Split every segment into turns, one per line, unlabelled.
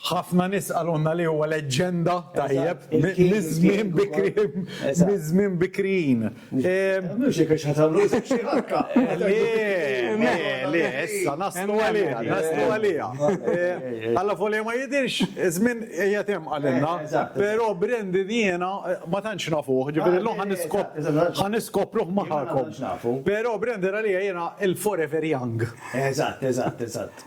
Ħafna nies qalulna li huwa leġġenda, tajjeb, miż-żmien bikri, miż-żmien bikrijin. Mhux
jekk għax ħa tagħmlu isem xi ħarka. Le,
le, issa naslu għaliha, naslu għaliha. Alla volja ma jidhirx, iż-żmien qiegħed hemm qalilna, però Brandon jiena ma tantx nafuh, ġifieri llum ħa niskop, ħa niskopruh magħkom. Però Brandon għalija jiena il-forever young. Eżatt, eżatt,
eżatt.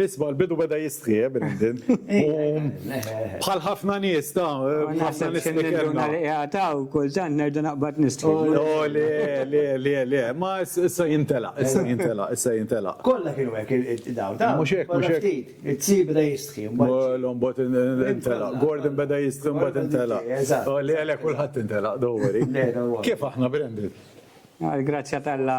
Isma, l-bidu beda jistħi, eh, Brindin. Bħal ħafna nies ta' ħafna nies li kellna. Għataw,
kultant nerġa' naqbad nistħi. Oh, no, le, le,
le, le, ma issa jintela, issa jintela, issa jintela. Kolla kienu għek
id-daw, ta' mux hekk, mux hekk.
It-si beda
jistħi. L-om bot
intela, Gordon beda jistħi, bot intela. Oh, le, le, kullħat intela, dowri. Kif aħna, Brindin? Grazzja
tal-la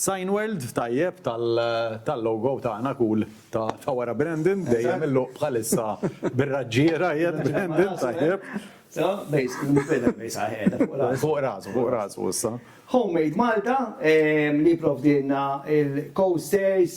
Cineworld
tajjeb tal logo tagħna cool ta' wara Brandon dejjem il-luq bħalissa bir-raġġiera qiegħed Brandon tajjeb. Fuq rasu fuq rasu issa. Homemade Malta
li jipprovdilna l-coasters,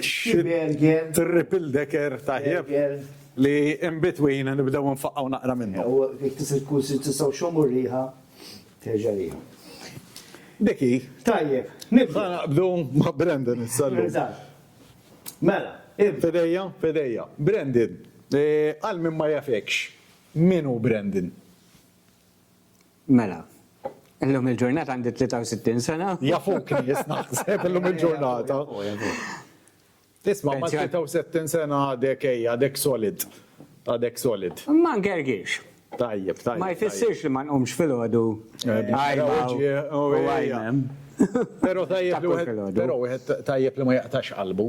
Schimberger. Trippeldecker tajjeb li in between nibdew nfaqgħu naqra minnu. U jekk
tista' tkun se tistgħu
x'hom
u r-riħa terġa' lejha. Dik
hi. Tajjeb.
Nibda naqbdu ma'
Brandon issa llum. Eżatt.
Mela, ibda. F'idejja, f'idejja.
Brandon, għal min ma jafekx, min hu Brandon? Mela.
Illum il-ġurnata għandi 63 sena. Jafuk li jis
naħseb illum il-ġurnata. Isma' ma' 63 sena għadek ej, għadek solid. Għadek solid. Ma ngergirx.
Tajjeb, tajjeb. Ma
jfissirx li
ma nqumx fil-ħodu. Għajma. Pero
tajjeb li wieħed tajjeb
li
ma jaqtax qalbu.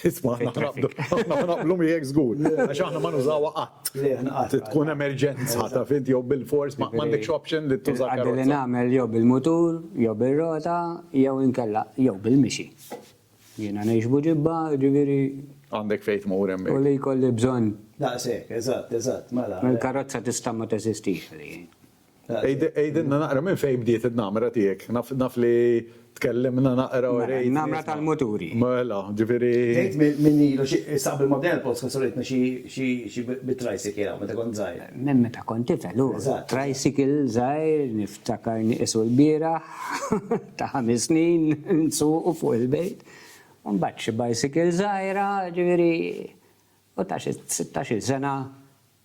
Isma'
aħna ħnaqblu, aħna ħnaqblu miegħek żgur, għax aħna ma nużawha qatt. Tkun
emerġenza
ta' fint jew bil-fors ma m'għandekx option li tuża karozza. Għaddi li nagħmel jew
bil-mutur, jew bir-rota, jew inkella jew bil-mixi. Jiena ngħix Buġibba, ġifieri. Għandek fejn
tmur hemmhekk. U li jkolli
bżonn. Daqshekk, eżatt,
eżatt, mela. Il-karozza tista' ma
teżistix għalija.
Għidilna naqra minn fejn bdiet in-namra tiegħek. Naf li tkellimna naqra u rejt. Namra tal-muturi.
Mela, ġifieri.
Bdejt minn ilu
xi saq bil-modell post meta uritni xi bit-tricycle hawn meta kont żgħir. Minn meta kont tifel
hu. Eżatt. Tricycle
żgħir
niftakar nieqisu l-bieraħ ta' ħames snin nsuqu fuq il-bejt. U mbagħad xi bicycle żgħira, ġifieri u ta' xi sittax-il sena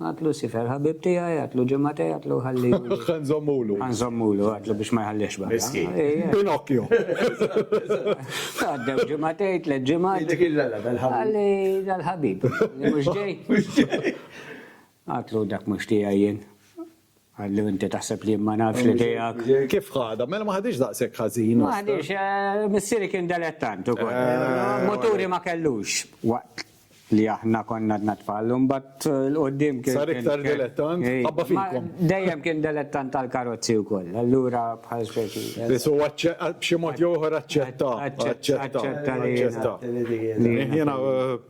Għad Lucifer, ħabib tiegħi, għadlu ġimagħtej, għadlu ħalli. Ħa nżommulu. Ħa
nżommulu, għadlu
biex ma jħalliex barra. Miskin. Pinocchio. Għaddew ġimagħtej, tliet ġimgħat. Dik il-lala dal-ħabib.
Għalli dal-ħabib.
Mhux ġej. Għadlu dak mhux tiegħi jien. Qallu inti taħseb li jien ma nafx li tiegħek. Kif ħadha? Mela ma
ħadhiex daqshekk ħażin. Ma ħadhiex,
missieri kien delettant ukoll. Muturi ma kellux waqt li aħna konna għadna tfal u mbagħad 'l quddiem kien. Sar iktar delettant?
Ħabba fikom. Dejjem kien delettant
tal-karozzi wkoll. Allura bħal speċi. Biss huwa
b'xi mod jew ieħor aċċetta. Aċċetta. Aċċetta.
Aċċetta.
Jiena.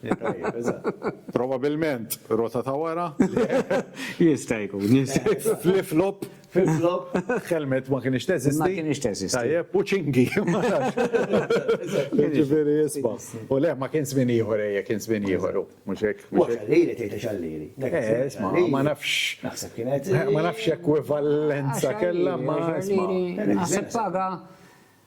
Tajjeb, eżatt. Probabilment rota ta' wara. Jista'
jkun, jista' jkun. Flip-flop.
Flip-flop.
Helmet ma kinitx
teżisti. Ma kinitx teżisti. Tajjeb,
u ċingi.
Jiġifieri isma'. U le, ma kien żmien ieħor, ejja, kien żmien ieħor hu. Mhux hekk? U xallieri, tgħidha
xallieri. Eh, isma', ma
nafx. Naħseb kienet.
Ma nafx
x'ekwivalenza kellha, ma isma'. Naħseb paga.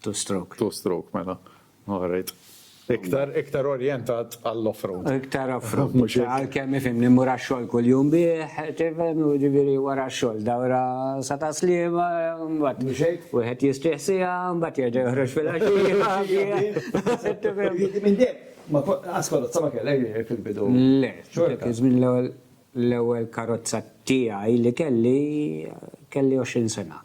Two stroke.
Two stroke mela.
Alright. Iktar, iktar orientat għall-offroad. Iktar offroad.
Mhux hekk. Għalkemm ifhimni mmur għax-xogħol kuljum bih, tifhem, u ġifieri wara x-xogħol dawra sa ta' sliema, mbagħad. Mhux hekk. Wieħed jistrieħ siegħa, mbagħad jerġa' joħroġ fil-għaxija. Tifhem. Jiġifieri minn dejjem, ma kont, anzi
karozza ma kellek ġifieri fil-bidu. Le. Xorta. Kien
żmien l-ewwel, l-ewwel karozza tiegħi li kelli, kelli 20 sena.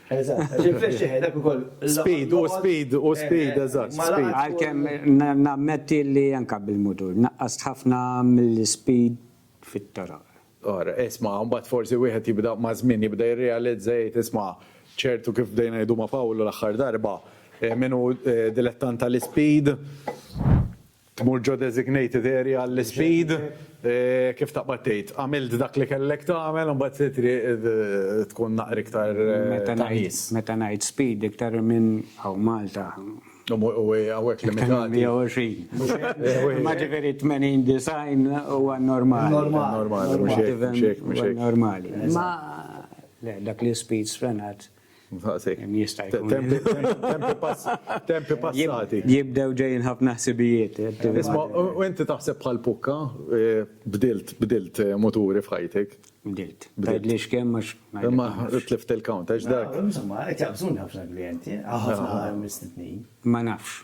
Eżatt, għax il-flash eħe, dak
ukoll. Speed, hu speed, hu speed, eżatt, speed. Għalkemm
nammetti li anke bil-mutur naqqast ħafna mill-ispeed fit-toroq. Ara, isma',
mbagħad forsi wieħed jibda maż-żmien jibda jirrealizza jgħid isma' ċertu kif bdejna ngħidu ma' Pawlu l-aħħar darba, min hu dilettant tal-ispeed, Tmur ġo designated area għall-ispeed, kif taqbad tgħid, għamilt dak li kellek tagħmel u mbagħad se triq tkun naqra iktar ta' nies. Meta ngħid speed
iktar minn hawn Malta. U
hawnhekk limitati.
120. Imma ġifieri 80, 90 huwa normali. Normali, mhux hekk. Normali. Imma le, dak l-ispeed sfrenat. Jista' jkun.
Tempi passati. Jibdew ġejjin ħafna
ħsibijiet. Isma', u
inti taħseb bħal Pukka, bdilt, bdilt muturi f'ħajtek? Bdilt. Tgħidlix
kemm għax. Imma tlift
il-count għax dak. Insomma, qed jaqbżuni
ħafna klijenti, ħafna mistednin. Ma nafx.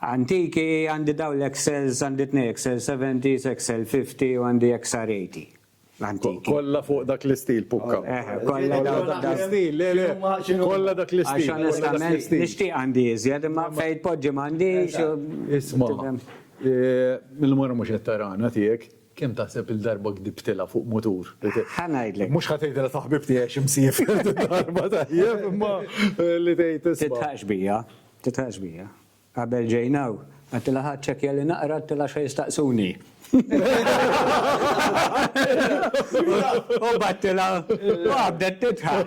Antiki, għandi dawn l-Excels, għandi tnej Excel 70s, Excel 50 u għandi XR 80. Antiki. Kollha fuq dak
l-istil pukka. Eh, kollha dawn
dak l-istil,
le le. Kollha dak l-istil. Għax onestament
nixtieq għandi iżjed, imma fejn tpoġġi m'għandix. Isma',
eh, mill-mara mhux qed tarana tiegħek, kemm taħseb il-darba gdibtilha fuq mutur? Ħanajdlek. Mhux
ħatgħidilha ta' ħbib
tiegħi xi msiefer darba tajjeb, imma eh, li tgħid isma'. Titħax bija. Titħaq
xbija. Qabel ġejn hawn, għedtilha ħa ċċekkja li naqra, għedtilha x'ħa jistaqsuni. U bagħtilha u qabdet titħaq.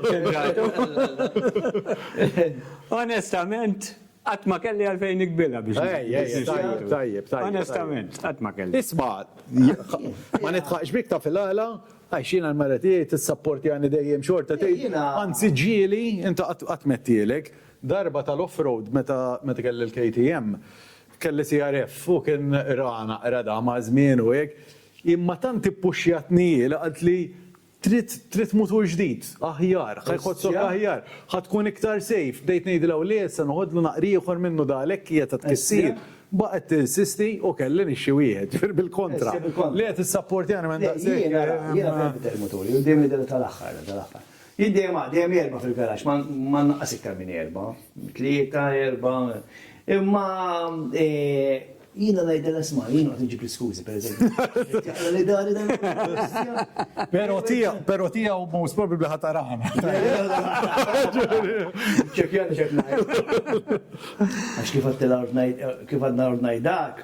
Onestament, qatt ma kelli għalfejn niqbilha biex. Tajjeb, tajjeb.
Onestament,
qatt ma kelli. Isma',
ma nitħaqx bik taf il-għala, għax jiena l-mara tiegħi tissapportjani dejjem xorta tgħid, anzi ġieli, inti qatt mettielek. Darba tal-offroad meta meta kelli l-KTM kelli CRF u kien ra naqra da ma' żmien u hekk, imma tant ippuxxjatni hi li qaltli trid trid mutur ġdid, aħjar, ħa jħossok aħjar, ħa tkun iktar safe, bdejt ngħidilha u le issa noħodlu naqra ieħor minnu da għalhekk hija ta' tkissir, baqgħet tinsisti u kelli nixtri wieħed, ġifieri bil-kontra, li qed issapportjani m'hemm daqshekk. Jiena jiena bdejt inbidel
muturi u dejjem nibdel tal-aħħar tal-aħħar. Jien dejjem għad, dejjem erbgħa fil-garaxx, ma ma nnaqqas iktar minn erbgħa, tlieta, erbgħa. Imma jiena ngħidilha sma' jien noqgħod inġib l-iskużi pereżempju. Jaqla li dari dan.
Però tija, però tija u most probably ħa tarana.
Ċekjani ċek ngħid. Għax kif għad ngħid, kif għad ngħid dak,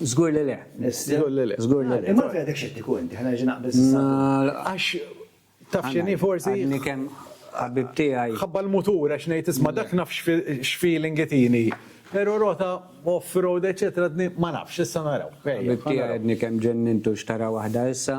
Żgur li le. Żgur li le. Żgur li le. Imma għalfejn
għadek xettiku inti? Ħa nerġa' naqbeż issa. Għax
taf x'inhi forsi? Għadni kemm
ħabib tiegħi. Ħabba l-mutur għax ngħid
isma' dak naf x'feeling itini. Però rota off-road eċċetera għadni ma nafx, issa naraw. Ħabib tiegħi għadni
kemm ġennintu x'tara waħda issa.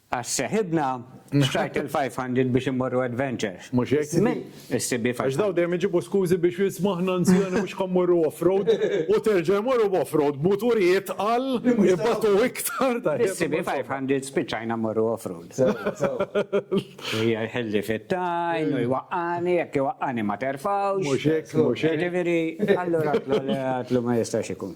Għax seħibna xtrajt il-500 biex immorru adventure. Mhux hekk? Żmien
issib bi 500. Għax dawn
dejjem iġibu
skużi biex isma' aħna anzjani mhux ħa mmorru off-road u terġa' jmorru b'off-road b'muturijiet tqal ibatu iktar. Issib bi 500
spiċċajna mmorru off-road. Sewwa, sewwa. Hija jħilli fit-tajn u jwaqqagħni, jekk iwaqqagħni ma terfgħux. Mhux hekk, mhux hekk.
Jiġifieri, allura
għidlu ma jistax ikun.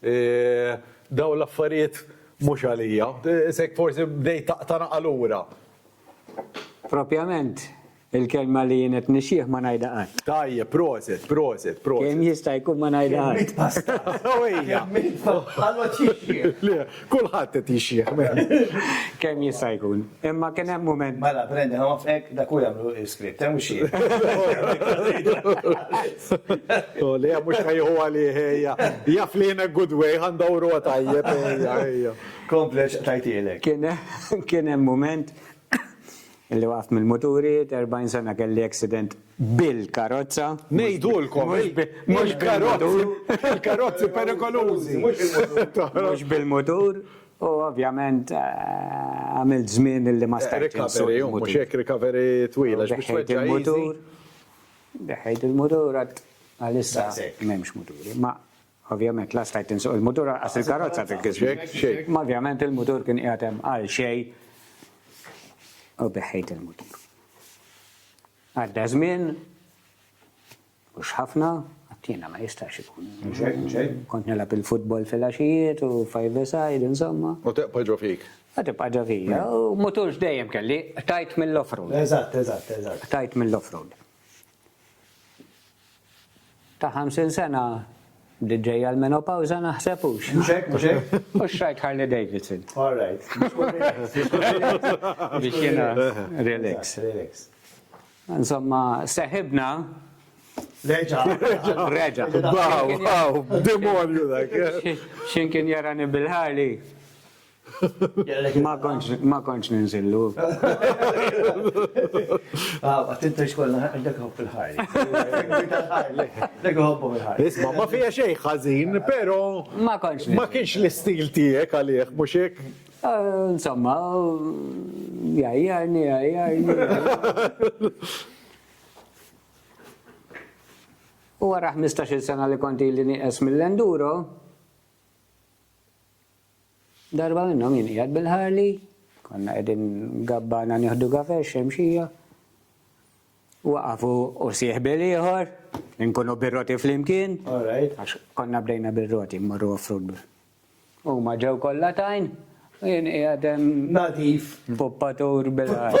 Dawn l-affarijiet mhux għalija. Isek forsi bdejt taqta' naqa' lura. Propjament,
il-kelma li jien qed nixjih ma ngħidha qatt. Tajjeb, prosit,
prosit, prosit. Kemm jista'
jkun ma ngħidha qatt. Kemmiet pasta.
Ewwejja. Kemmiet
pasta. Ħalloċ
jixjih. Le, Kulħadd
qed jixjieħ mela. Kemm jista'
jkun. Imma kien hemm mument. Mela, Brendan, ħanwaffqek
dak hu jagħmlu l-iskript, hemm mhux jien.
Oh, le, mhux ħa jieħu għalih, ejja. Jaf li in a good way, ħa ndawruha tajjeb, ejja, ejja. Kompli għax
qtajtielek. Kien hemm
mument Illi waqaft mill-muturi, għedt 40 sena kelli accident bil-karozza. Ngħidulkom,
il-karozzi perikolużi. Mhux
bil-mutur, u ovvjament għamilt żmien illi ma stajtx insuq il-mutur. Recovery, mhux hekk
recovery twila biex tweġġa' il-mutur.
Deħħejt il-mutur, deħħejt il-mutur, għalissa m'hemmx muturi. Ovvjament la stajt insuq il-mutur anqas il-karozza dak iż-żmien. Imma ovvjament il-mutur kien qiegħed hemm għal xejn u beħħejt il-mutur. Għadda żmien, mhux ħafna, għad jiena ma jistax ikun. Kont
nilgħab il-futbol
fil-għaxijiet u five-a-side insomma. U tibqa' ġo fik.
Qed tibqa' ġo fija
u mutur x'dejjem kelli, qtajt mill-off-road. Eżatt, eżatt,
eżatt. Qtajt
mill-off-road. Ta' 50 sena bdiet ġejja l-menopawża naħseb hux? Mhux hekk, mhux hekk?
Hux rajt Harley
Davidson. All right. Biex jiena relax. Relax.
Insomma,
seħibna.
Reġa'. Reġa'.
Baw, baw,
demonju dak. X'imkien
jarani bil-Harley. Ma kontx ninżillu.
Attinta xkollna għax dak ħobb il-ħajr. Dak ħobbu il-ħajr. Isma' ma fija xejn
ħażin, però ma kontx. Ma
kienx l-istil
tiegħek għalih, mhux hekk? Insomma,
jajjarni, jajjarni. U għara 15 sena li konti li nieqes mill-enduro, Darba minnhom jien qiegħed bil-Harley, konna qegħdin gabbana nieħdu kafè x-Xemxija, waqaf hu u sieħbi l-ieħor, inkunu bir-roti flimkien, għax
konna bdejna
bir-roti mmorru off-road. Huma ġew kollha tajn, u jien qiegħed hemm. Nadif.
Puppatur
bil-Harley.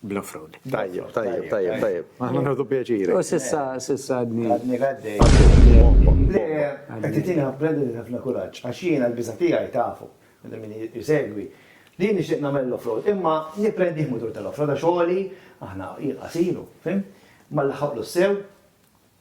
bla fraud. Tajjeb, tajjeb,
tajjeb, tajjeb. Aħna nħodu pjaċiri. U sissa, sissa
għadni. Għadni għadni.
Le, għattitina għabbredi li ħafna kuraċ, għaxina l-biza tijaj tafu, minn minn jisegwi. Li nixtieq nagħmel l-offroad, imma nipprendi mutur tal-offroad għax għoli aħna jqasilu, fim? Ma l-ħaqlu sew,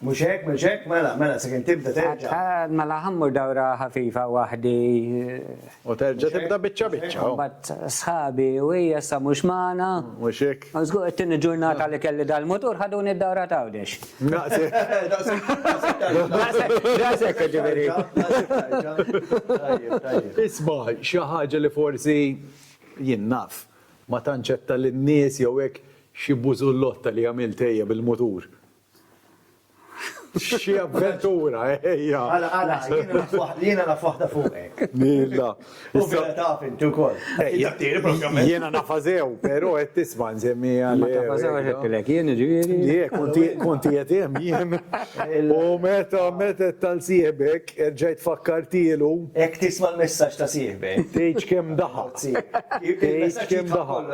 Mhux hekk,
mhux hekk, mela, mela, sakemm tibda terġa'. Mela ħa mmur
dawra ħafifa waħdi. U
terġa' tibda biċċa biċċa. Mbagħad
sħabi u hija sa mhux magħna. Mhux hekk. U żgur
it-tieni ġurnata
li kelli dal-mutur ħaduni d-dawra t'Għawdex. Naqsek. Naqsek ġifieri.
Isma' xi ħaġa li forsi jien naf ma tantx għedtha lin-nies jew hekk xi bużullotta li għamilt ejja bil-mutur. Xi avventura, ejja. Għala, għala,
jiena naf waħda fuqek. Milla.
Issa taf
inti wkoll. Ejja, tieni pratikament.
Jiena nafażew, però qed tisma' nsemmi għal. Ma tafażew għax
qedtilek jien ġieri. Le, konti
qed hemm jien. U meta meta tal sieħbek erġajt fakkartielu. Hekk tisma'
l-messaġġ ta' sieħbek. Tgħidx kemm daħaq.
Tgħidx kemm daħaq.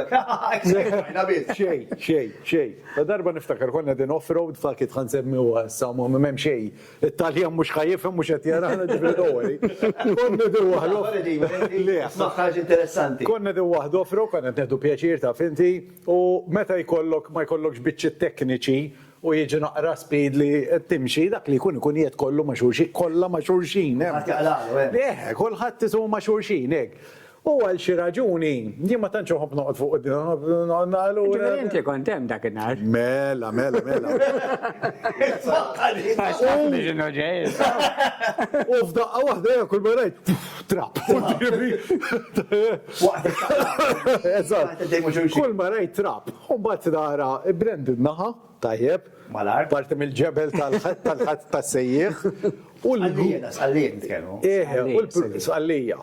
Xejn, xejn, xejn. La darba niftakar konna qegħdin off road f'Akit ħa nsemmiha issa m'hemm xejn, it-Taljan mhux ħa jifhem mhux qed jarana ġifieri don't worry. Konna qegħdin waħda. Smagħ ħaġa
interessanti. Konna qegħdin waħda off road
konna qed nieħdu pjaċir taf inti u meta jkollok ma jkollokx biċċiet tekniċi u jiġi naqra speed li qed timxi dak li jkun ikun qiegħed kollu ma' xulxin kollha ma' xulxin hemm. Kulħadd jaqlaqlu hemm. Kulħadd isu ma'
xulxin
hekk. U għal xi raġuni, jien ma tantx inħobb noqgħod fuq din, noqgħod nara lura.
Jiġifieri inti kont hemm dak in-nhar. Mela, mela, mela. Għax tafni x'inhu ġej issa.
U f'daqqa waħda jien kull ma rajt, trab. Eżatt. Kull ma rajt trab. U mbagħad nara brand in-naħa, tajjeb. Mal-art. Parti
mill-ġebel
tal-ħadd tas-sejjieħ. Sqallija,
sqallija nitkellmu. Eħe, sqallija.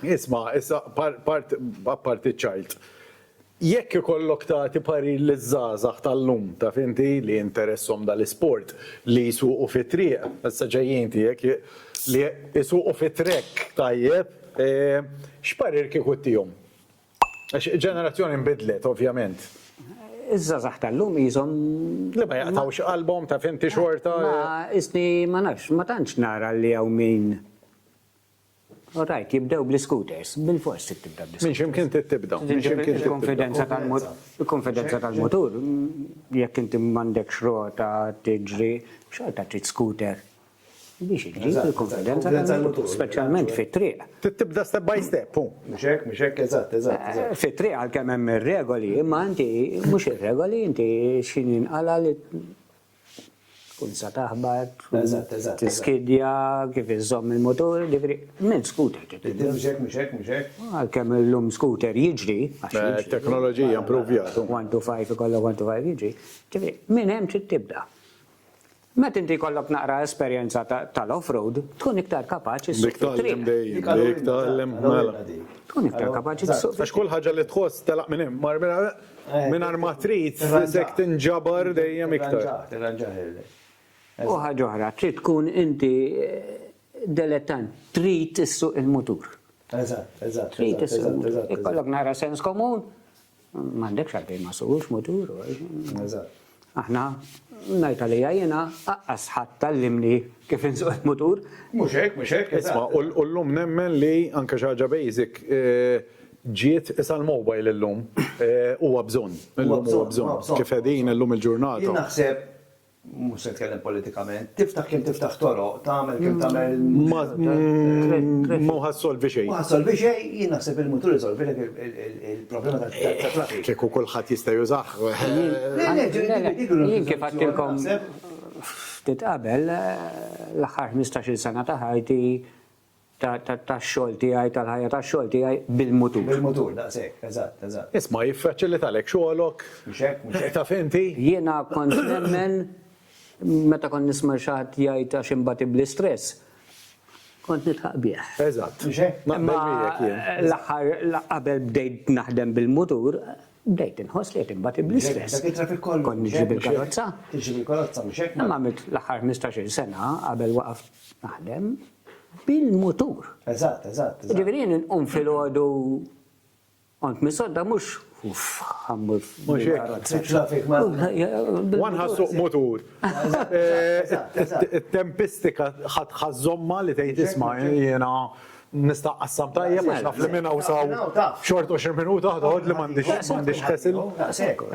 Isma',
issa apparti ċ-child, jekk ikollok tagħti parir liż-żgħażagħ tal-lum, taf inti, li jinteressahom dal-isport, li jsuqu fit-triq, issa ġejjin tiegħek, li jsuqu fit-trekk tajjeb, x'parir kieku ttihom? Għax ġenerazzjoni nbidlet, ovvjament. Iż-żgħażagħ
tal-lum qishom. Li ma jaqtgħux
qalbhom, taf inti, xorta. Ma, qisni,
ma nafx, ma tantx nara li hawn min All right, jibdew bl-iscooters. Bilfors trid tibda bl-iscooters. Minn x'imkien trid tibda. Minn
x'imkien trid tibda. Il-kunfidenza tal-mut,
il-kunfidenza tal-mutur, jekk inti m'għandekx rota tiġri, xorta trid scooter biex iġġib il-kunfidenza tal-mutur, speċjalment fit-triq. Trid tibda step by
step, hu. Mhux hekk, mhux hekk, eżatt,
eżatt, eżatt. Fit-triq għalkemm
hemm ir-regoli, imma inti mhux ir-regoli, inti x'inhi nqala' li. Tkun sa taħbat, tiskidja, kif iżżomm il-mutur, jiġifieri minn scooter trid tibda. Mhux hekk, mhux
hekk, mhux hekk. Għalkemm illum
scooter jiġri, għax jiġri. It-teknoloġija
improvjat. One to five ikollok
one to five jiġri. Jiġifieri minn hemm trid tibda. Meta inti jkollok naqra esperjenza tal-off-road, tkun iktar kapaċi ssuq fit-triq. Dik tagħlem dejjem,
dik tagħlem. Tkun iktar kapaċi
ssuq fit-triq. Għax kull ħaġa li tħoss
telaq minn hemm. Mingħajr ma trid, isek tinġabar dejjem iktar. U
ħaġa oħra, trid tkun inti delettant, trid issuq il-mutur. Eżatt, eżatt.
Trid issuq il-mutur.
Ikollok nara sens komun, m'għandekx għalfejn ma ssuqux mutur. Eżatt.
Aħna,
ngħid għalija jiena, aqqas ħadd għallimni kif insuq il-mutur. Mhux hekk,
mhux hekk, isma', u llum nemmen li anke xi ħaġa basic ġiet isa l-mobile illum huwa bżonn, illum huwa bżonn. Kif qegħdin illum il-ġurnata. Jien naħseb,
mhux se nitkellem politikament, tiftaħ kemm tiftaħ toroq, tagħmel kemm tagħmel.
Ma hu ħa ssolvi xejn. Ma ħa ssolvi xejn, jien
naħseb il-mutur isolvilek il-. Il-problema ta' traffic. Kieku kulħadd jista'
jużah. Jien
kif għedtilkom ftit qabel, l-aħħar ħmistax-il sena ta' ħajti, tax-xogħol tiegħi, tal-ħajja tax-xogħol tiegħi bil-mutur. Bil-mutur,
daqshekk, eżatt, eżatt. Isma' jiffaċilitalek
xogħolok. Mhux hekk, mhux hekk. Taf
inti? Jiena
kont
nemmen meta kont nisma' xi ħadd jgħid għax inbati bl-istress, Kont nidħaq bih. Eżatt. Mhux hekk? Naqbel
miegħek
jien. Imma
l-aħħar qabel bdejt naħdem bil-mutur, bdejt inħoss li qed inbati bl-istress. Dak it-traffic kollu. Kont niġri
bil-karozza.
Tiġri bil-karozza,
mhux hekk? Imma għamilt l-aħħar ħmistax-il
sena qabel waqaft naħdem bil-mutur. Eżatt, eżatt.
Jiġifieri jien inqum
filgħodu Kont misodda mhux uff ħammur. Mhux
hekk.
Wan
ħassuq mutur. Tempistika ħadd ħażomma li tgħid isma' jiena nista' qassam tajjeb għax naf li minn hawn saw xort 20 minuta ħdod li m'għandix m'għandix ħesil.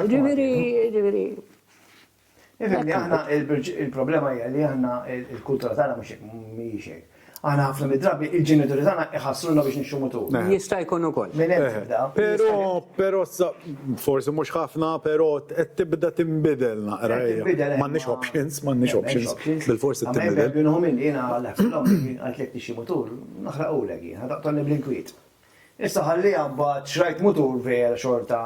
Ġifieri,
ġifieri.
Nifhem li aħna il-problema hija li aħna il-kultura tagħna mhux hekk mhijiex hekk. Aħna ħafna mid-drabi il-ġenituri tagħna iħassruna biex nixxu mutur. Jista' jkun ukoll.
Minn hemm tibda.
Però, però sa
forsi mhux ħafna, però qed tibda tinbidel naqra hija. M'għandniex options, m'għandniex options. Bil-fors qed tinbidel. Minn hawn minni jiena għalhekk
l-omm għalt jekk tixxi mutur, naħraqulek jien, ħa taqtolni bl-inkwiet. Issa ħalliha mbagħad xrajt mutur vera xorta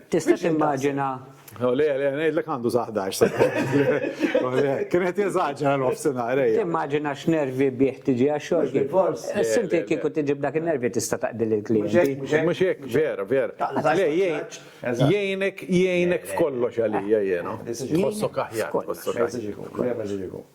Tista'
timmaġina. O le, le,
ngħidlek għandu sa ħdax sena. O le, kien qed jeżaġera nofsinhar ejja. Timmaġina x'nervi
bih tiġi għax-xogħol. Bil-fors. Issa inti kieku tiġi b'dak in-nervi tista' taqdi lill-klijenti. Mhux hekk, vera,
vera. Le, jgħinek, jgħinek f'kollox għalija jien. Tħossok aħjar, tħossok aħjar. Vera ġiġi jkun.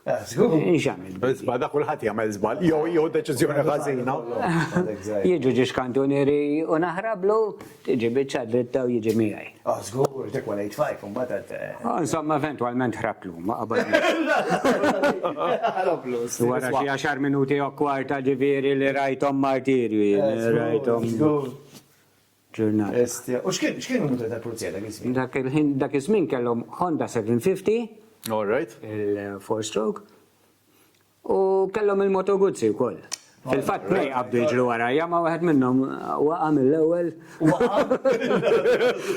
Zbal,
da kulħadd jagħmel
żball, jew jew deċiżjoni ħażina. Jiġu
ġiex kantunieri u naħrablu, tiġi biċċa dritta u jiġi miegħi. Ah, żgur, dik wara
jitfajk imbagħad. Eh. Ah, insomma, eventwalment
ħrabtlu ma qabel. Wara xi għaxar minuti u kwarta ġifieri li rajthom martirju, eh, rajthom. ġurnata. Bestia. U x'kien,
x'kien il-mutur tal-pulizija dak iż-żmien? Dak il-ħin, dak iż-żmien
kellhom Honda 750. All right.
Il-four stroke.
U kellhom il-Moto Guzzi wkoll. Fil-fatt tnejn qabdu jiġru warajja ma wieħed minnhom waqa' mill-ewwel. Waqa'?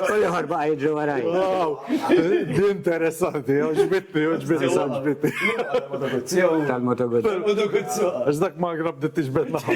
U l-ieħor baqa' jiġri warajja. Wow!
Din interessanti, għoġbitni, għoġbitni, għoġbitni. Tal-Moto Guzzi.
Tal-Moto Guzzi. Tal-Moto Guzzi. Għax dak
magra bdiet tiġbed naħa.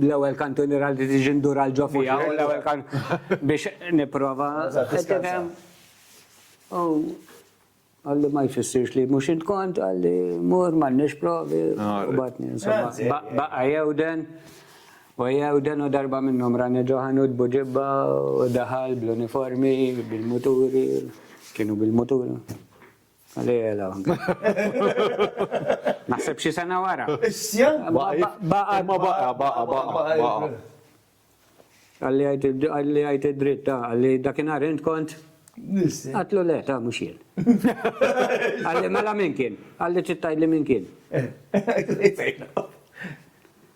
L-ewwel kantuniera li tiġi ndur għal ġo fija u l-ewwel kan biex nipprova. U għalli ma jfissirx li mhux int kont għalli mur m'għandniex provi u batni insomma. Baqa' jewden u jewden u darba minnhom rani ġo ħanut buġibba u daħal bl-uniformi bil-muturi kienu bil-muturi. Lejla. Naħseb xi sena wara. Issja? Baqa,
baqa, baqa, baqa, baqa.
Għalli għajt id-dritt ta' għalli dakinhar int kont. Għatlu le ta' mhux jien. Għalli mela min kien? Għalli tittajli min kien. Eh,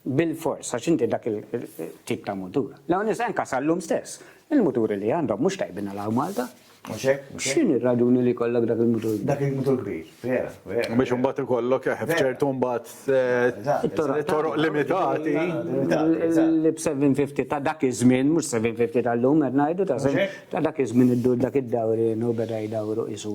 Bilfors, għax inti dak il-tip ta' mutur. L-hawness anka sal-lum stess. Il-muturi li għandhom mhux tajbin għal hawn Malta. Mhux hekk? X'in ir-raġuni li jkollok dak il-mutur? Dak il-mutur kbir,
vera, vera. Biex imbagħad
ikollok eh, f'ċertu mbagħad eh, toroq limitati. L-750
ta' dak iż-żmien, mhux 750 tal-lum qed ngħidu ta' dak iż-żmien iddur dak id-dawri u beda jdawru isu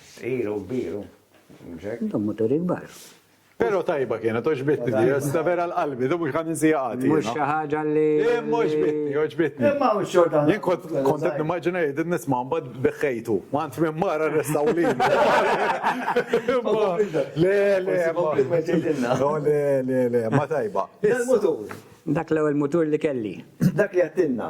Sqilu u
kbiru, mhux hekk? Intom
muturi kbar. Pero tajba
kienet, oġbitni di, issa vera l-qalbi, di mhux ħan insija qatt. Mhux xi ħaġa li.
Imma oġbitni, oġbitni.
Imma hawn xorta.
Jien kont qed
nimmaġina jgħidilni nisma' mbagħad beħħejtu. Ma int minn mara restaw lili. Le, le, le, le, le, ma tajba. Il-mutur.
Dak l-ewwel
mutur li kelli. Dak li għedtilna.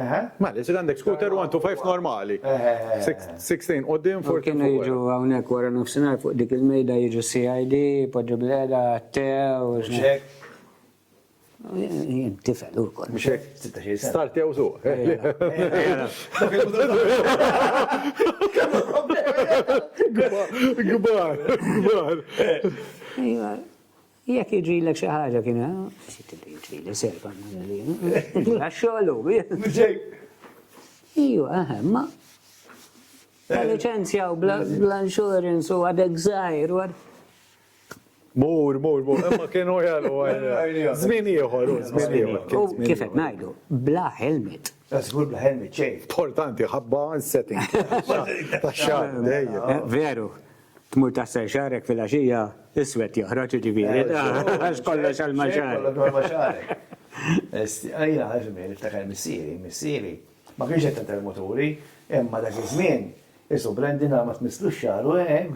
Mela, jisir għandek scooter 125 normali. 16 u din for kienu jiġu għawnek
wara nofsinar fuq dik il-mejda jiġu CID, podġu bil-għeda, te, u xek. Jien tifel u kol. Mxek,
start jew su. Gbar, gbar.
Jekk jiġrilek xi ħaġa kien jiġrili serba għax-xogħlu. Iju, eħe, ma. La eh. licenzja u bla insurance u għadek zaħir u għad.
Mur, mur, mur, ma kienu jgħalu għajja. Zmin jħor, zmin jħor. Kifet najdu,
bla helmet. Zgur bla helmet,
ċej. Portanti, ħabba
setting. Taxxar, dejjem. Eh, veru.
Tmur taħsel xagħrek filgħaxija iswed joħroġ jiġifieri. Għax kollox għal ma xagħrek. Kollox għal ma xagħrek.
Ejja, għażmin, iftakar missieri, missieri. Ma kienx qed tagħtel moturi, imma dak iż-żmien, isu Brandon għal ma tmisslux xagħru, eh,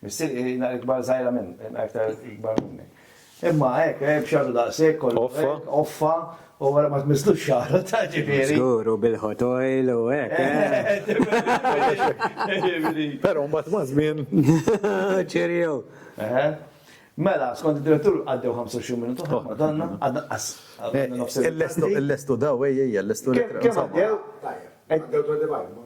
missieri naqra ikbar żgħira minn, iktar ikbar minni. Imma hekk, eh, b'xagħru daqshekk kollu. Offa. Offa, u wara ma tmisslux xagħru ta' ġifieri. Żgur u bil-ħotoil
u hekk. Eh.
Però mbagħad ma' żmien. Ċerjew.
Mela, skont id-direttur għaddew 25 minutu oh. ma donna, għadna qas. Eh, il-lestu
daw, ejja, il-lestu. Kemm
għaddew? Għaddew 25.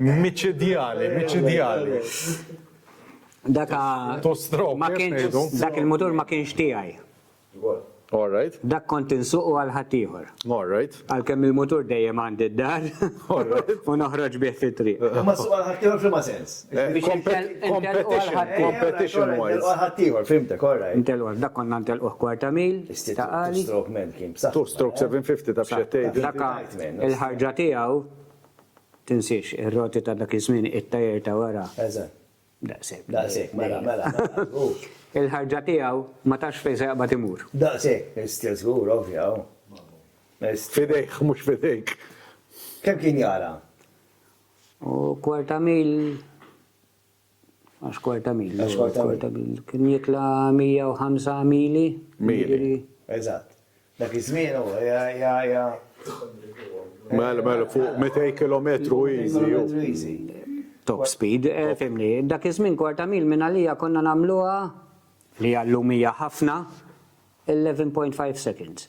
Miċidjali,
miċidjali.
Dak
il-mutur ma
kienx
tiegħi.
Dak kont insuqu għal
ħaddieħor. Għalkemm
il-mutur dejjem
għandi d-dar u noħroġ bih fit-triq. Imma ssuq għal ħaddieħor
f'liema sens? Competition
wise. Intelqu għal ħaddieħor, fhimtek,
all right. Intelqu għal, dak konna ntelquh
kwarta mil, ta' qali. Two stroke man kien b'saħħtu.
Two stroke 750
taf x'qed tgħid. Dak
il-ħarġa tiegħu, tinsiex, ir-roti ta' dak iż-żmien, it-tajer ta' wara. Eżatt.
Daqshekk.
Daqshekk, mela, mela. Il-ħarġa tiegħu ma tafx fejn se jaqbad imur. Daqshekk, is-stil
żgur, ovvja.
F'idejh, mhux f'idejk. Kemm
kien jara?
U kwarta mil, għax kwarta mil, għax kwarta mil, kien jitla 105 mili. Mili,
eżatt. Dak iż-żmien u ja.
Mela, mela, fuq 200 km easy. Top
speed, eh, fimni. Dak iż-żmien kwarta mil minn għalija konna nagħmluha li għallum hija ħafna 11.5 seconds.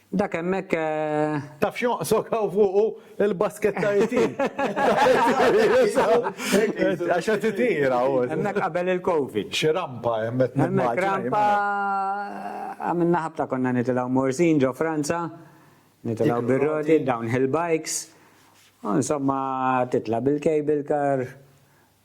Dak
hemmhekk eh. Taf
x'jonqsok hawn fuqu il-basketta itin. Għax qed itira u. Hemmhekk qabel il-Covid.
Xi rampa hemm qed
Hemmhekk rampa
għamilna ħabta konna nitilgħu Morzin ġo Franza, nitilgħu bir-roti, downhill bikes. Insomma titla' bil-cable car,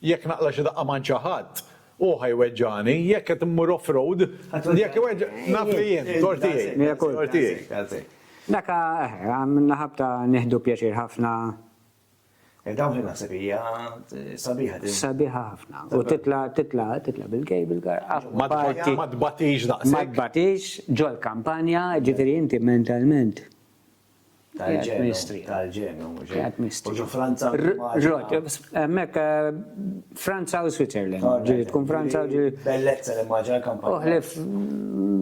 Jekk naqla' xi daqqa m'għand xi ħadd, hu ħa jweġġagħni. Jekk qed immur off road, jekk iweġġa', naf li jien, tort tiegħi, tort tiegħi. Dak
għamilna ħabta nieħdu pjaċir ħafna.
Dawn li naħseb hija sabiħa din. Sabiħa ħafna.
U titla' titla' titla' bil-cable car. Apparti. Ma
tbatix daqshekk. Ma tbatix
ġol-kampanja, jiġifieri inti mentalment tal-ġenju.
Tal-ġenju, mhux U ġo Franza. Ġot,
hemmhekk eh, Franza u Switzerland. Ġieli tkun Franza u ġieli. Bellezza li maġa kampanja.
Uħlef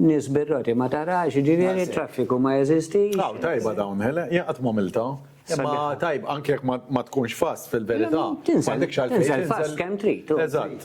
nies birroti ma tarax, ġieli traffiku ma jeżisti. Aw, tajba dawn,
hele, jaqgħad ma' Milta. Ma tajb, anke jekk ma tkunx fast fil-verità. Tinżel
fast kemm trid. Eżatt.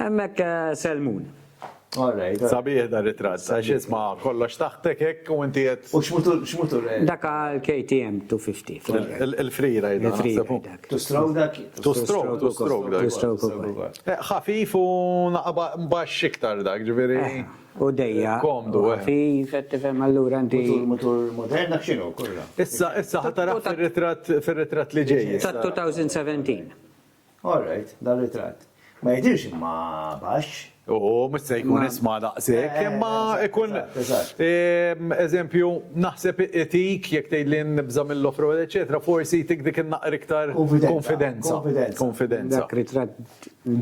Hemmhekk Selmun. All right.
Sabiħ da ritratt, għax isma' kollox taħtek hekk u inti qed. U x'mutur
hekk? Dak għal
KTM 250. Il-free ride naħseb.
Two stroke
dak? Two stroke, two
stroke dak. Two stroke ukoll. Ħafif u naqba baxx iktar dak, ġifieri. U dejja.
Komdu. Ħafif, qed
tifhem
allura inti. Mutur modern dak
x'inhu kollha. Issa issa ħatarah
fir-ritratt li ġej. Ta' 2017.
All
right, dar-ritratt. Ma jidhirx imma baxx. U mhux se
jkun isma' daqshekk, imma ikun eżempju naħseb itik jekk tgħidli nibża' mill-offroad eċċetera, forsi jtik dik in-naqra iktar kunfidenza. Kunfidenza. Dak
ritratt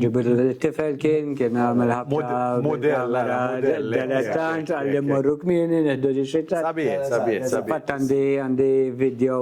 ġibitlu lit-tifel kien, kien għamel ħabta. Mudell, ara, mudell. Delettant, għalli mmorru kmieni, nieħdu ġiex ritratt. Sabiħ, sabiħ,
sabiħ. Fatt
għandi video.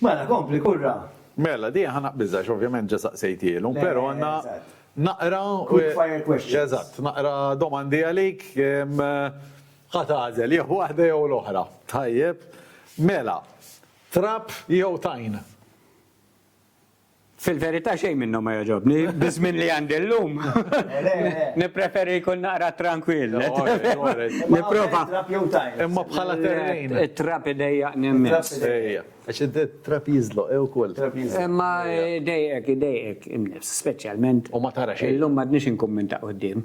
Mela, kompli, kurra. Mela, di ħa
naqbiżha għax ovvjament ġa saqsejthielhom, però għandna naqra. Quick fire
questions. Eżatt, naqra
domandi għalik, ħa tagħżel jew waħda jew l-oħra. Tajjeb. Mela, trab jew tajn?
Fil-verità xejn minnhom ma jogħġobni, biż-żmien li għandi llum. Nippreferi jkun naqra trankwill. Nipprova.
Imma bħala terrejn. It-trab idejjaqni
immens. Ejja. Għax
it-trab jiżloq, ejja wkoll. Imma
idejqek, idejqek in-nifs, speċjalment. U ma tara xejn. Illum
m'għadniex inkun minn ta'
quddiem.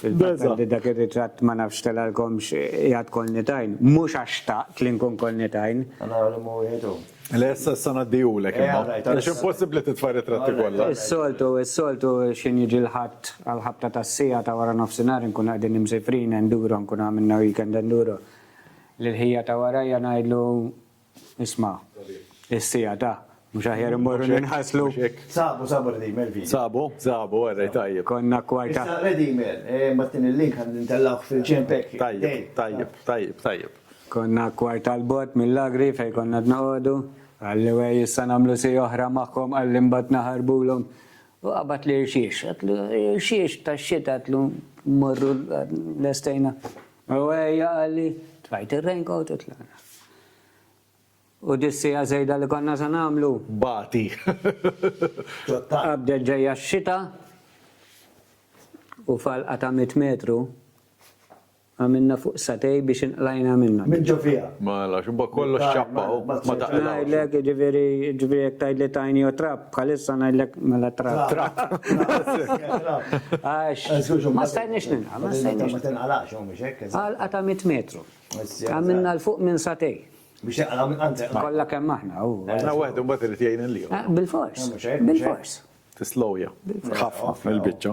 Fil-fatt li dak ir-ritratt ma nafx telgħalkomx qiegħed kollni tajn, mhux għax xtaqt li nkun kollni tajn. Naraw liema
wieħed hu. Le issa issa
ngħaddihulek imma. Għax impossibbli titfa' r-ritratti kollha. Is-soltu, is-soltu
xi niġi l-Ħadd għall-ħabta tas-siegħa ta' wara nofsinhar inkunu qegħdin imsifrin enduro, nkunu għamilna weekend enduro. Lil ħija ta' warajja ngħidlu, Isma', is-siegħa ta', mhux aħjar immorru ninħaslu? Sabu, sabu
Redeemer video. Sabu, sabu, werrej
tajjeb. Konna kwarta. Issa
Redeemer,
mbattini l-link għan nintellawk fil-ġenb hekk. Tajjeb, tajjeb, tajjeb,
tajjeb. Konna
kwarta l-bot mill-agri fejn konna dnoqogħdu. Qalli wej issa nagħmlu siegħa oħra magħhom qalli mbagħad naħarbulhom. U qabad l-irxiex, għatlu irxiex tax-xita għatlu mmorru lestejna. U ejja qalli, Trajt ir-raincoat u tlaqna. U dis-siegħa żejda li konna se nagħmlu. Bagħti. Qabdet ġejja x-xita u falqa ta' mitt metru għamilna fuq satej biex inqlajna minnha. Minn ġo fiha. Mela,
x'imkien kollox
ċappa u ma taqilgħux. Ngħidlek, jiġifieri,
jiġifieri jekk tgħidli tajni u trab. Bħalissa ngħidlek mela trak. Trak. Għax ma stajniex ninqal, ma stajniex. Ma tinqalax hawn biex hekk.
Għalqa ta' 100 metru.
Għamilna l fuq minn satej. Biex jaqla minn
għandek. Kollha kemm aħna.
Aħna waħed imbagħad irid
jgħin il-liħor. Bil-fors.
Bil-fors. Tislowja.
Ħafna fil-biċċa.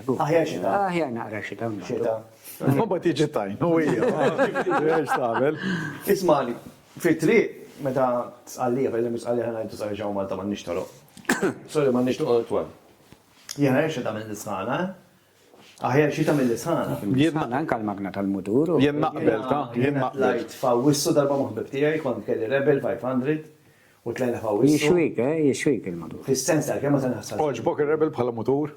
Aħjar
xita.
Aħjar
naqra xita.
Xita. Mbagħad jiġi
tajn u hija. Għax tagħmel. Ismali,
fit-triq meta tqallija, fejn hemm tqallija ħana jdu sarġaw Malta ma nixtoroq. Sorry ma nixtoroq twal. Jena jirxa ta' minn l-isħana, Aħjar xita minn l-isħana. Jena anka l-magna
tal-mutur. Jena naqbel ta'
jena naqbel. Lajt fawissu darba
muħbib tijaj, kont kelli Rebel 500 u tlajna fawissu. Jixwik, eh, jixwik il-mutur.
Fis-sens tal-kemma tal-ħassan.
Oġbok il-Rebel bħala mutur?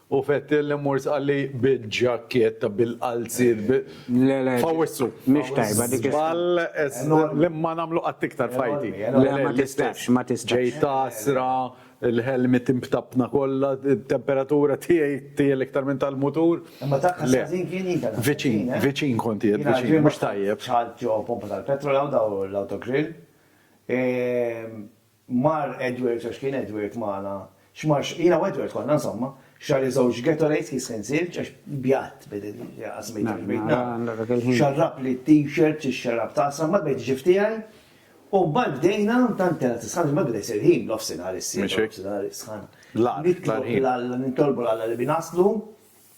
U Fettel li mmur sqalli bil-ġakketta, bil-qalziet, bi. Le, le. F'Awwissu. Mhix tajba
dik. Żball
li ma nagħmlu qatt iktar f'ħajti. Le, ma tistax,
ma tistax. Ġej tgħassra,
il-ħelmiet imtappna kollha, it-temperatura tiegħi tgħel iktar minn tal-mutur. Imma dak kien ħażin
kien jien kelli. Viċin, viċin kont
qiegħed, viċin, mhux tajjeb. Ċaħħadt ġo pompa
tal-petrol hawn dawn l-Autogrill. Mar Edward, għax kien Edward magħna, x'mar, jiena u Edward konna insomma, xarri żewġ Gatorades kien skin silġ għax bjadt bid il-qasmejt għax bejt nagħmel. Xarrab li t-t-shirt, ix-xarab tagħsa, mbagħad bdejt ġift tiegħi u mbagħad bdejna tant kellha tisħan mbagħad beda jsir ħin nofsinhar issieħeb nofsinhar is-sħana. Nitlob lil Alla, nitolbu lil Alla li bi naslu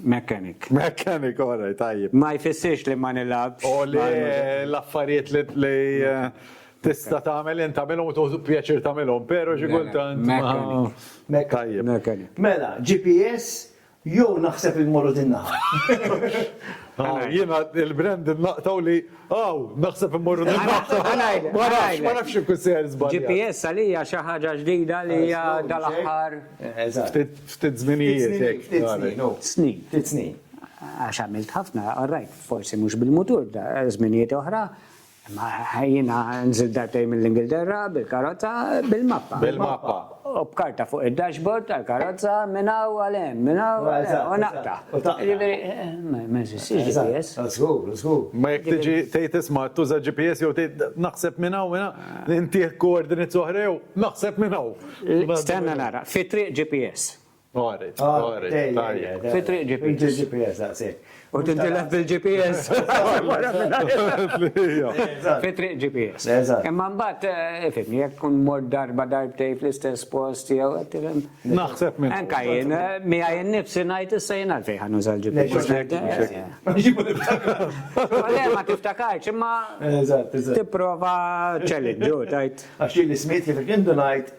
Mechanic. Mechanic,
all right, tajjeb. Ma jfissirx li ma
nilgħabx. U li
l-affarijiet li tista' tagħmel int tagħmilhom u tuħdu pjaċir tagħmilhom, però xi kultant. Mechanic. Mela,
GPS
jew naħseb li mmorru din naħa.
Jiena il-brand naqtaw li Aw, naħseb immorru nil-Malta. Ma nafx ikun seher żball. GPS għalija xi
ħaġa ġdida li hija dal-aħħar.
Ftit żminijiet. Ftit snin. Snin.
Ftit
snin. Għax għamilt
ħafna, orrajt, forsi mhux bil-mutur, żminijiet oħra. Ma ħajjina nżil dartej mill-Ingilterra, bil-karozza, bil-mappa. Bil-mappa. U
b'karta fuq
id-dashboard tal-karozza minn hawn għal hemm, minn hawn għal hemm, u naqta'. Jiġifieri, ma jeżistix GPS. Żgur, żgur. Imma
jekk tiġi
tgħid isma' tuża GPS jew tgħid naħseb minn hawn, intieh coordinates oħra jew naħseb minn hawn. Stenna nara,
fit-triq GPS. Għaret, għaret, tajjeb. Fi triq GPS. Fi triq GPS, daqsek. U tintilef bil-GPS. Fi triq GPS. Imma mbagħad eh, ifimni jekk kun mor darba darbtej fl-istess post jew qed tifhem. Naħseb minn. Anka
jien eh, miha
jien nifsi ngħid issa jien għalfejn ħa nuża l-GPS. Le ma tiftakarx imma tipprova ċellinġu tajt. Għax li smit li
fil-kindu ngħid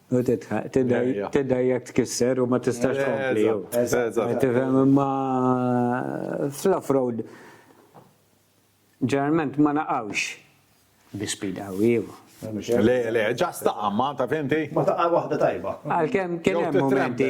U titħaq, tidda jekk tkisser u ma tistax tkompli. Tifhem imma fl-off-road ġeneralment ma naqgħux bi speed qawwi. Le, le,
ġast taqam, ma ta' fimti? Ma taqqa' waħda tajba.
Għalkemm kien hemm
momenti.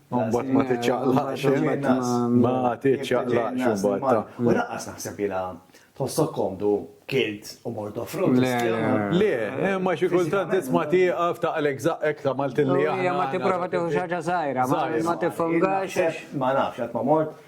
Mbagħad ma tiċċaqlaqx ma tiċċaqlaqx imbagħad. U laqqas naħseb ilha
tħossok komdu kilt u mort offrut. Le,
imma xi kultant tisma' tieqaf taqlek żaqqek ta' Maltin li aħna. Ma tipprova
tieħu
xi
ħaġa
żgħira,
ma
tifhomgax. Ma
nafx
qatt ma
mort.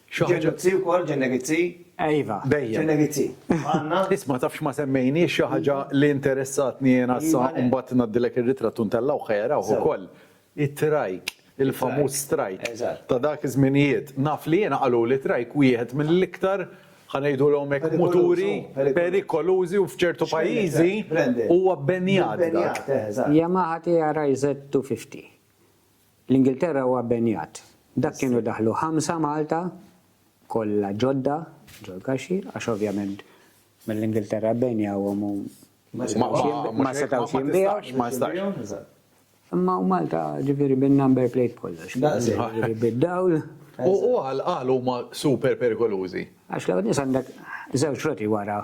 Xi ħaġa. Ġenegizzi wkoll, ġenegizzi. Iva, bejja.
Ġenegizzi.
Għandna. Isma' taf x'ma
semmejniex xi ħaġa li interessatni jiena issa mbagħad ngħaddilek ir-ritratt u ntellgħuh ħa jarawh ukoll. It-trajk, il-famuż trajk ta' dak
iż-żminijiet.
Naf li jiena qaluli trajk wieħed mill-iktar ħa ngħidulhom hekk muturi perikolużi u f'ċertu pajjiżi huwa bbenjat dak. Yamaha
TRI Z250. L-Ingilterra huwa benjat. Dak kienu daħlu ħamsa Malta, kollha ġodda, ġol-kaxxi, għax ovvjament mill-Ingilterra benjawhom u ma setgħux jinbiegħu. Ma jistax.
Imma u
Malta ġifieri bin-number plate kollox. Ġifieri
bid-dawl.
U għal
huma super perikolużi? Għax l-ewwel nies għandek
żewġ roti wara.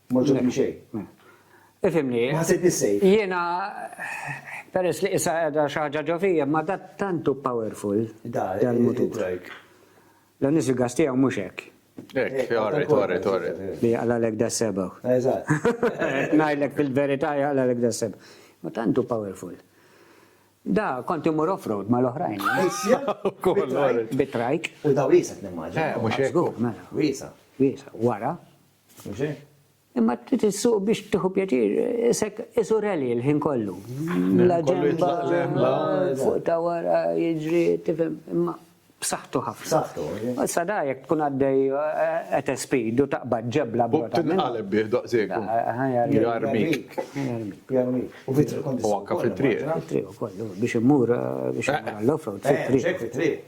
M'għoġobni xejn. Ifhimni.
Ma ħsibtni safe.
Jiena
peress li qisha qiegħda xi ħaġa ġo fija, imma da tant hu powerful dal-mutur.
Dan
is-sigas tiegħu mhux hekk. Hekk, orri,
orri, orri. Li jaqlalek da
seba. Eżatt.
Ngħidlek
fil-verità jaqlalek da seba. Ma tant hu powerful. Da, kont imur off-road ma l-oħrajn. Bitrajk. U da wisa t-nimmaġi. Eh,
mux ekku. Wisa.
Wisa.
Wara, Imma trid
issuq biex tieħu pjaċir, qisek qisu rally l-ħin kollu. La ġenba, fuq ta' wara, jiġri, tifhem, imma b'saħħtu ħafna. B'saħħtu, ħajja. Issa da
jekk tkun
għaddej at a speed u taqbad ġebla b'rota. U tinqaleb bih daqshekk u
jarmik. Jarmik. U
fit-triq. U anke fit-triq.
Fit-triq ukoll,
biex immur, biex immur għall-offroad fit-triq. Fit-triq.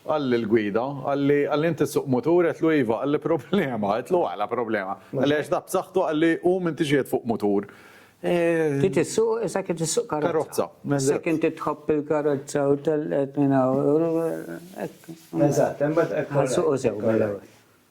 Qalli l-gwida, qalli, qalli inti ssuq mutur, għedtlu iva, qalli problema, għedtlu għala problema, qalli għax dak b'saħħtu qalli hu m'intix qiegħed fuq mutur. Ti
tissuq issa kif tissuq karozza. Karozza. Issa kien ti tħobb il-karozza u tellqet minn hawn. Eżatt, imbagħad hekk.
Ħa nsuqu sew
mill-ewwel.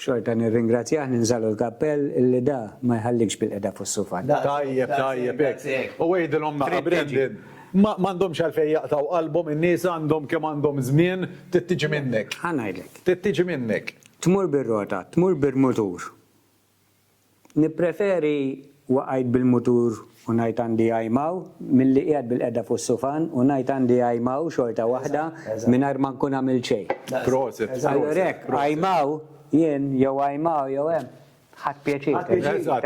Xorta nirringrazzjah ninżagħlu l-kappell illi da ma jħallikx bilqiegħda fuq is-sufan. Tajjeb, tajjeb
hekk. U għidilhom naqa' Brandon, ma għandhomx għalfejn jaqtgħu qalbhom in-nies għandhom kemm għandhom żmien, trid tiġi minnek. Ħa ngħidlek. Trid tiġi
minnek.
Tmur bir-rota,
tmur bil-mutur. Nippreferi waqajt bil-mutur u ngħid għandi għajmaw milli qiegħed bil-qegħda fuq sufan u ngħid għandi għajmaw xorta waħda mingħajr ma nkun għamilt xejn. Allura
hekk,
għajmaw jien jew għajmaw jew hemm, ħadt pjaċir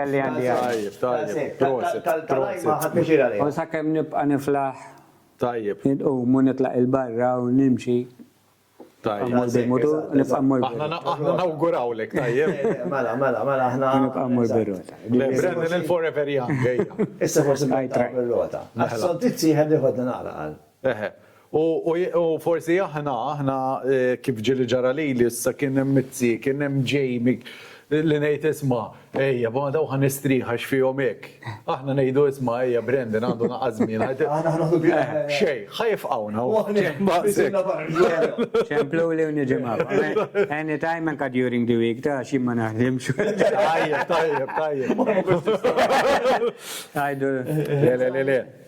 talli għandi
għajmaw.
U sakemm nibqa'
niflaħ,
inqum u nitlaq
'il barra u nimxi. Aħna nawgurawlek,
tajjeb. Mela, mela, mela, aħna.
Nibqa' mmur
bir-rota. Brendan il-forever
young, ejja. Issa forsi nibqa'
bir-rota. Għas-soldizzi jħebb jieħodna naqra qal. Eħe. U
forsi aħna, aħna kif ġieli ġara lili issa kien hemm it-T, kien hemm Jamie li ngħid isma'. Ejja, ma daw ħa nistrieħ għax fihom hekk. Aħna ngħidu isma' ejja Brendan għandu naqas żmien. Xejn,
ħa jifqgħuna
hawn.
Ċempluli u niġi magħhom. Anytime anka during the week ta' xi ma naħdimx. Tajjeb, tajjeb,
tajjeb.
Għajdu. Le, le, le, le.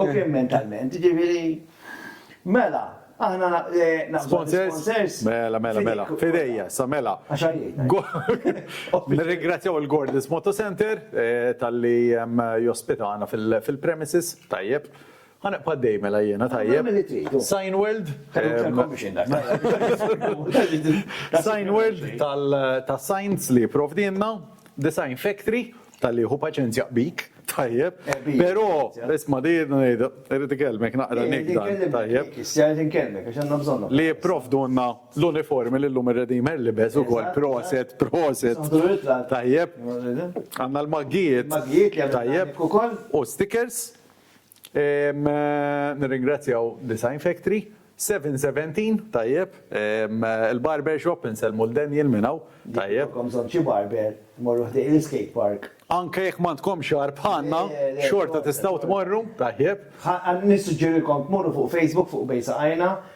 U kien mentalment, jiġifieri, mela, aħna naħsbu l-isponsors.
Mela, mela, mela, f'idejja, sa mela. Nirringrazzjaw il-Gordis Moto Center talli jospitana fil-premises, tajjeb. Ħa neqpa' għaddej mela jiena, tajjeb. Sign World. Sign World tal-signs li jipprovdilna, Design Factory Talli jieħu paċenzja bik, tajjeb. Però, isma' di irrid ikellmek naqra nikda, tajjeb. Issejjed inkellmek għax
għandna bżonnhom. Li jipprovdulna
l-uniformi li llum ir-Redeemer libes ukoll. Proset, proset. Tajjeb. Għandna l-maggijiet. Maggijiet li għandna. Tajjeb. U stickers. Nirringrazzjaw Design Factory. 717, tajjeb. Il-barber shop, insellmu lil Daniel minn hawn. Tajjeb. Jekk ikolkom bżonn xi barber,
morru ħdejn l-iskate park. Anke jekk m'għandkomx
xagħar bħalna, xorta tistgħu tmorru, tajjeb. Nissuġġerilkom
tmorru fuq Facebook fuq Bejn Saqajna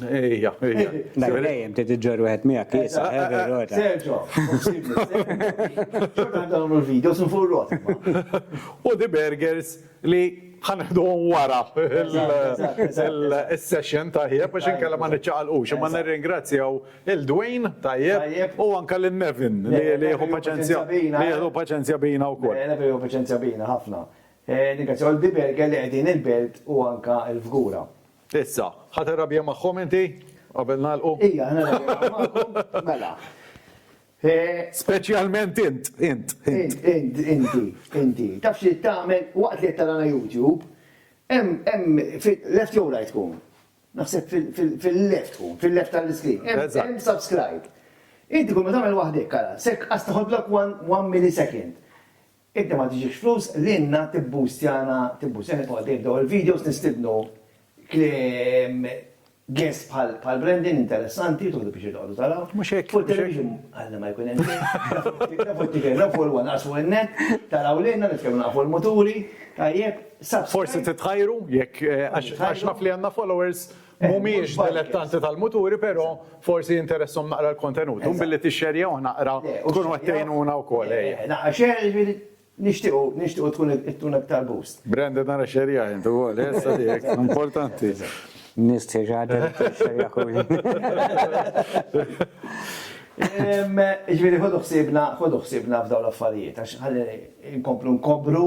Ejja,
ejja. Mela dejjem
trid iġġor wieħed miegħek kiesa, Serġo.
Xorta dawn il-video sun fuq rot. U di
burgers li ħanħduhom wara il-session tajjeb biex inkella ma niċċaqalqux. Imma nirringrazzjaw il-Dwayne tajjeb u anke lil Nevin li jieħu paċenzja li jieħdu paċenzja bina wkoll. Nevin jieħu paċenzja bina
ħafna. Nirringrazzjaw il-di burger li qegħdin il-belt u anke l-fgura. Issa,
ħa tirrabja magħhom inti, qabel nagħlqu? Ejja, ħa nirrabja magħkom,
mela. Speċjalment
int, int, int. Int, inti,
inti. Taf xi tagħmel waqt li qed tarana YouTube, hemm, hemm, left jew right tkun? Naħseb fil-left tkun, fil-left tal-iskrin. Hemm subscribe. Inti kull ma tagħmel waħdek, ara, sekk qas taħodlok one millisecond. Inti ma tiġibx flus lilna tibboostjana tibboostjana jibqgħu għaddejjin dawn il-videos nistidnu kliem guest bħal bħal Brendan interessanti tieħdu pjaċir toqgħodu taraw. Mhux hekk. Fuq television
Alla ma jkun
hemm xejn. Nafu t-tiker nafu l-wan qasmu n-net taraw lilna nitkellmu nafu l-muturi tajjeb. Forsi
titħajru jekk għax naf li għandna followers Mhumiex dilettanti tal-muturi però forsi jinteresshom naqra l-kontenut. U billi tixxerjawh naqra tkunu qed tgħinuna wkoll ejja. Naqra share jiġifieri
nixtiequ nixtiequ tkun ittuna iktar boost. Branded nara xxerjah
int ukoll eh issa tiegħek importanti. Nies tixxerja
tixxerja kull. Jiġifieri
ħodu ħsiebna ħodu ħsiebna f'dawn l-affarijiet għax ħalli nkomplu nkobru